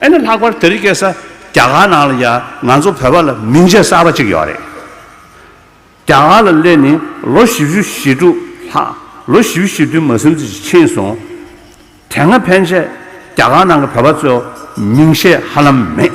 ཨ་ནི་ལྷག་པར་དེ་རིགས་སྐད་ས་རྒྱ་གར་ནང་ལ་ཡང་ང་ཚོ་བོད་པ་ལ་མིང་ཆད་གསར་པ་གཅིག་ཡོད་རེད། རྒྱ་གར་ལ་སླེབས་ནས་ལོ་བཞི་བཅུ་ཞེ་དྲུག་ལྷག་ལོ་བཞི་བཅུ་ཞེ་བདུན་མ་སེམས་ཚེ་ཞིག་ཕྱིན་སོང། དེ་སྔ་ཕན་ཆད་རྒྱ་གར་ནང་གི་བོད་པ་ཚོའོ་མིང་ཆད་ཧ་ལམ་མེད།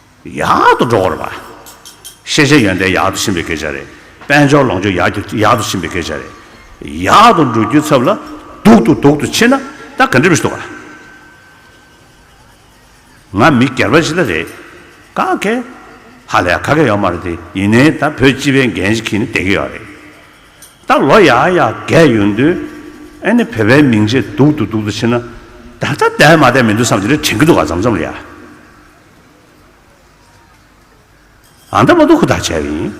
ཡག་ཏུ་འགྲོ་བར་བ། ཤེས་བྱའི་ཡོན་ཏན་ཡག་ཏུ་ཕྱིན་པའི་སྐད་ཆ་རེད། དཔལ་འབྱོར་ལོངས་སྤྱོད་ཡག་ཏུ་ཕྱིན་པའི་སྐད་ཆ་རེད། ཡག་ཏུ་འགྲོ་རྒྱུའི་ཚབ་ལ་སྡུག་ཏུ་སྡུག་ཏུ་ཕྱིན་ན་ད་ག་འགྲིག་མི་འདུག་ག། ང་མི་སྒེར་པ་ཞིག་ལ་རེད་ག་གེ། ཧ་ལས་ག་གེ་ཡོད་མ་རེད་དེ་ཡིན་ནའི་ད་བོད་སྤྱི་པའི་འགན་ཞིག་གིས་ནི་བསྡད་ཀྱི་ཡོད་རེད། ད་ལོ་ཡག་ཡག་བསྡད་ཡོད་དུས་ཨེ་ནི་བོད་པའི་མིང་ཆད་སྡུག་ཏུ་སྡུག་ཏུ་ཕྱིན་ན་ད་ད་བསྡད་མ་བསྡད་མི་འདུག་བསམ་གྱི་རེད་དྲན་གྱི་འདུག་ག་འཇམ་འཇམ་ལ་ཡ། ཨ་མདའ་མོ་ཏོ་ཁུ་ཐག་བཅད་ཡིན།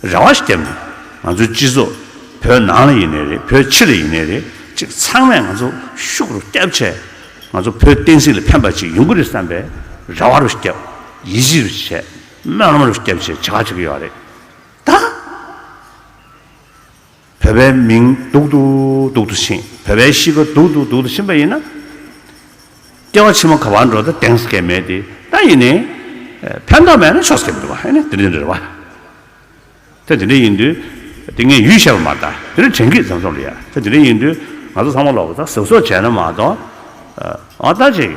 རེ་བ་ཞིག་བརྒྱབ་ནས། ང་ཚོའི་སྤྱི་ཚོགས། བོད་ནང་ལ་ཡིན་ནས་རེད་བོད་ཕྱི་ལ་ཡིན་ནས་རེད་ཅིག་ཚང་མས་ང་ཚོ་ཤུགས་རུ་བསྐྱབས་ཆེད། ང་ཚོ་བོད་བསྟན་སྲིད་ལ་ཕན་པ་ཅིག་ཡོང་གི་རེད་བསམ་པའི། རེ་བ་རུ་བསྐྱབས། ཡིད་ཆེས་རུ་བྱས། སྨོན་ལམ་རུ་བསྐྱབས་ཅེས་བྱ་བ་བྱེད་ཀྱི་ཡོད་རེད། ད། བོད་པའི་མིང་སྡུག་ཏུ་སྡུག་ཏུ་ཕྱིན། བོད་པའི་གཤིས་ཀ་སྡུག་ཏུ་སྡུག་ཏུ་ཕྱིན་པ་ཡིན་ན། སྐྱེ་བ་ཕྱི་མ་ག་བར་འགྲོ་ད་དེང་སྐད་མེད་དེ་ད་ཡིན་ནའི། ཕན་ཐོག་མེད་ན་ཆོག་སྐད་མི་འདུག་ཨ་ནི་དེ་འདྲའི་རེད་བ། ད་དེ་འདྲ་ཡིན་དུས། དེ་ངས་ཡུས་བཤད་པ་མ་ད་དེ་འདྲ་དྲན་གི་ཟེར་སོང་ལ་ཡ། ད་དེ་འདྲ་ཡིན་དུས་ང་ཚོ་ཚང་མ་ལོག་པ་ད་ཟེར་སོགས་བྱས་ན་མ་གཏོགས། ཨ་ད་ཅིག།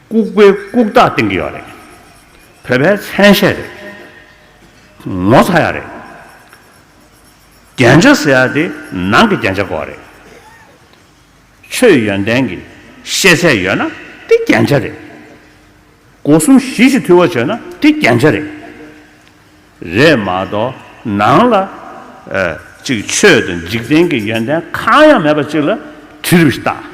ལྐུགས་པའི་ལྐུགས་རྟགས་བསྟན་གྱི་ཡོད་རེད། བོད་པའི་མཚན་ཤས་རེད། ངོ་ཚ་ཡག་རེད། རྒྱན་ཆ་ཟེར་ཡག་དེ་ནང་གི་རྒྱན་ཆ་གོ་རེད། ཆོས་ཡོན་ཏན་གྱི་ཤེས་ཚད་ཡོད་ན་དེ་རྒྱན་ཆ་རེད། སྒོ་གསུམ་གཞི་གཅིག་འཐུས་བ་བྱོས་ན་དེ་རྒྱན་ཆ་རེད། རེད་མ་གཏོགས་ནང་ལ་ཅིག་ཆོས་དང་འཇིག་རྟེན་གྱི་ཡོན་ཏན་གང་ཡང་མེད་པ་ཅིག་ལ་དྲི་རུ་བཞི་བཏགས།